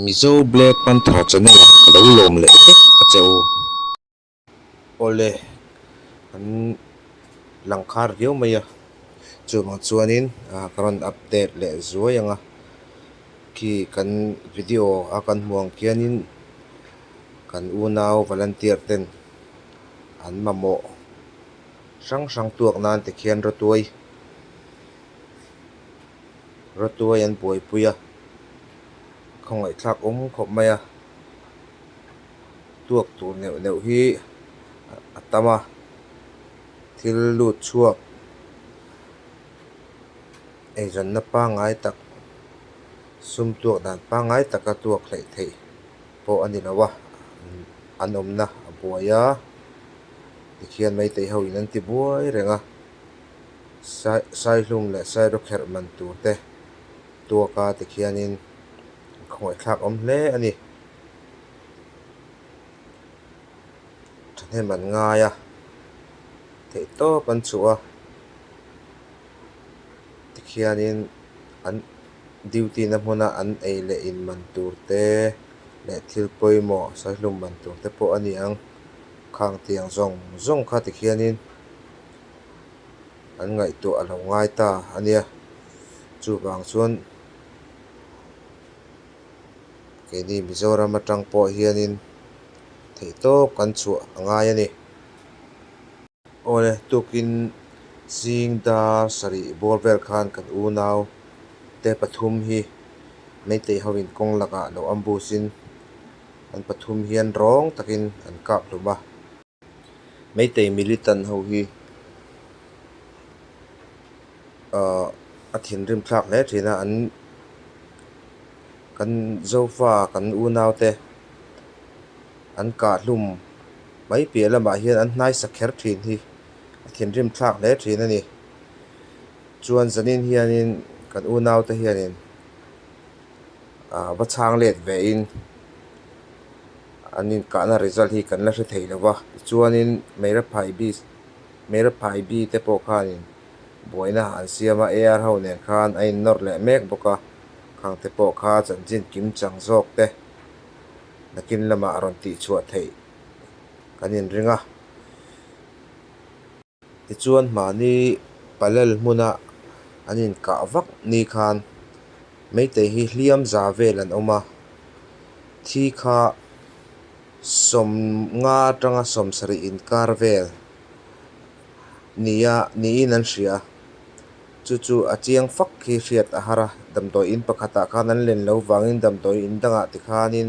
Mizo Black Panther channel ah ka lo lawm leh vek a che u. Awle an lang khar viau mai a, chuvang chuanin ka rawn update leh zuai ang a, khi kan video a kan hmuh ang khianin kan unau volunteer ten an mamawh hrang hrang tuak nan te khian ratuai. Ratuai an buaipui a, khawngaihthlak awm khawp mai a, tuak tur neuh neuh hi a tam a, thil lut chhuak eiranna pangngai tak, sum tuak dan pangngai taka tuak hlaih theih pawh a ni lo a, an awmna a buai a tikhian maitei ho in an ti buai reng a. Saihlum leh Sairo kherh man tur te tuak a ti khianin a khawngaihthlak awm hle a ni. Thahnem an ngai a, theih tawp an chuh a ti khianin an duty na hmuna an ei leh in man tur te leh thil pawimawh saihlum man tur te pawh a niang khang tiang zawng zawng kha ti khianin an ngaihtuah a lo ngai ta a nia chuvang chuan keini Mizoram atang pawh hianin theihtawp kan chhuah a ngai a ni. Awle tukin zing dar sarih bawr vel khan kan unau te pathum hi Meitei hoin kawng lakah lo awm busin an pathum hian rawng takin an kap hlum a. Meitei militant ho hi a thinrim thlak hle thin a, an kan Zofa kan unaute an kahhlum mai piah lamah hian an hnaisa kher thin hi a thinrim thlak hle thin a ni. Chuan zanin hianin kan unaute hianin. ah va chhang let ve in an inkahna result hi kan la hre thei lo va tichuanin meiraphai bi meiraphai bi te pawh khanin buaina ah an siam a ar ho nen khan a innawr leh mek bawk a khang te pawh kha chanchin kim chang zawk te nakin lamah a rawn tihchhuah theih kan inring a. Tichuan mahni palel hmuna an inkah vak ni khan Meitei hi hliam za vel an awm a, thi kha sawm nga tanga sawm sarih inkar vel nia niin an hria. Chu chu a chiang fak khi hriat a har a, damdawi in pakhatah khan an len lo vangin damdawi in dangah tikhanin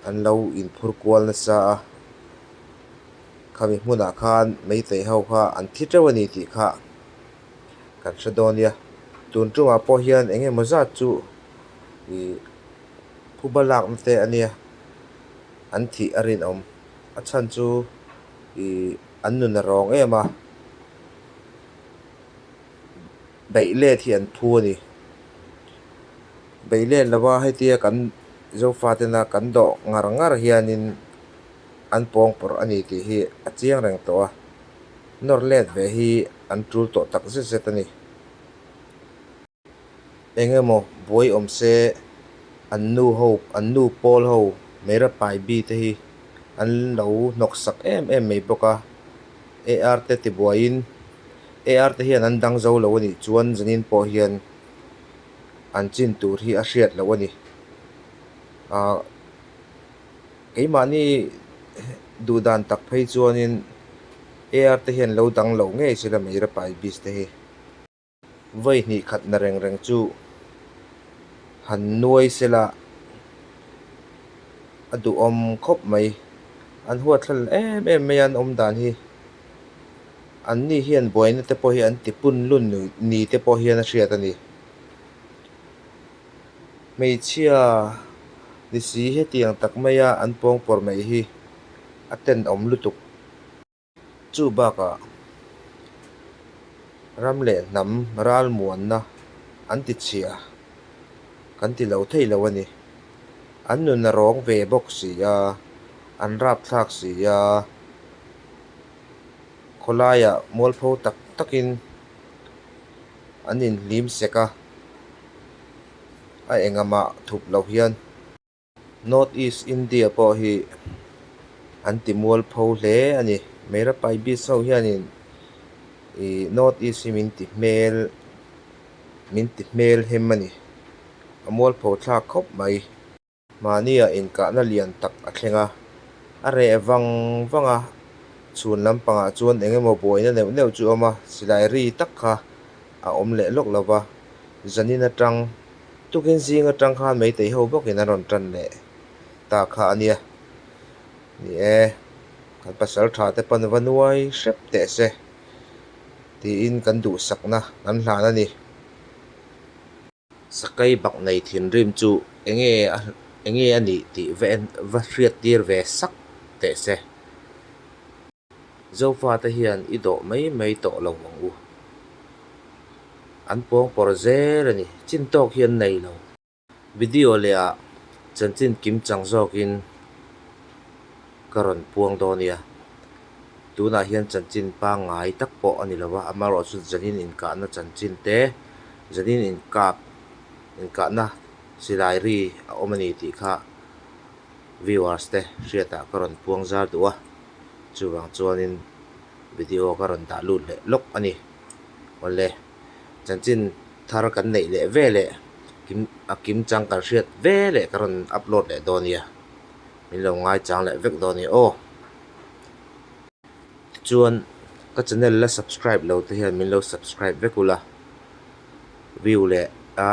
an lo inphur kual nasa a. Khami hmunah khan Meitei ho kha an thi teuh a ni tih kha kan hre dawn nia. Tun ṭumah pawh hian eng emaw zat chu ih phu ba lakna te a nia an thih a rinawm. A chhan chu ih an nun a rawng em a, beih let hi an phu a ni. Beih let lova hei tia kan Zofa tena kan dawh ngar ngar hianin an pawngpawrh a ni tih hi a chiang reng tawh a, nawr let ve hi an tul tawh tak zet zet a ni. Eng emaw buai awm se an nu ho, an nu pawl ho Meira Pai Bi te hi an lo hnawksak em em mai bawk a, AR te tibuaiin AR te hian an dang zo lo a nih chuan zingin pawh hian an chin tur hi a hriat loh a ni. Aah. Keimahni duh dan tak phei chuanin AR te hian lo dang loh ngei sila Meirapai Biz te hi. Vawi hnih khat na reng reng chu han nuai sela a duhawm khawp mai. An huathlal em em mai a an awm dan hi. An ni hian buaina te pawh hi an ti punlun ni te pawh hian a hriat a ni. Hmeichhia nisi hetiang tak maia an pawngpawrh mai hi a tenawm lutuk. Chu bakah ram leh hnam ralmuanna an tichhia kan ti lo thei lo a ni. An nuna rawng ve bawk si a, an rapthlak si a, khawlaiah mualpho tak takin. An inhlim sek a, a engamah thup loh hian North East India pawh hi an timual pho hle a ni. Meirapai Bisau hianin i North East hi min ti hmel, min ti hmelhem a ni. A mualpho thlak khawp mai. Mahnia inkahna lian tak a thleng a, a reh vang vang a, chhun lampangah chuan eng emaw buaina neuh neuh chu awm a, silai ri tak kha a awm leh lawk lo va, zanin atang tukin zing atang khan meitei ho bawkin an rawn tan leh ta kha a nia. Ni e, kan pasal tha te pan va nuai hrep teh se tiin kan duhsakna kan hlan a ni. Sakai bak nei thinrim chu enge a enge a nih tih va en va hriattir ve sak teh se. Zofate hian i dawh mai mai tawh lo ang u. An pawngpawrh zel a ni. Chin tawk hi an nei lo. Video leh ah chanchin kim chang zawkin Ka rawn puang dawn nia. Tunah hian chanchin pangngai tak pawh a ni lo a, amaherawh chu zanin inkahna chanchin te, zanin inkap, inkahna silai ri a awm a ni tih kha viewers te hriatah ka rawn puang zar duh a, chuvang chuanin video ka rawn dah lut leh lawk a ni. Awle chanchin thar kan neih leh ve leh, kim, a kim chang kan hriat ve leh ka rawn upload leh dawn nia. min lo ngai chang leh vek dawn nia aw tichuan ka channel la subscribe lo te hian min lo subscribe vek ula view leh a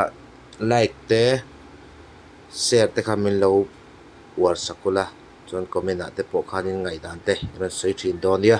like te share te kha min lo uar sak ula chuan comment ah te pawh khan in ngaihdan te i rawn sawi thin dawn nia.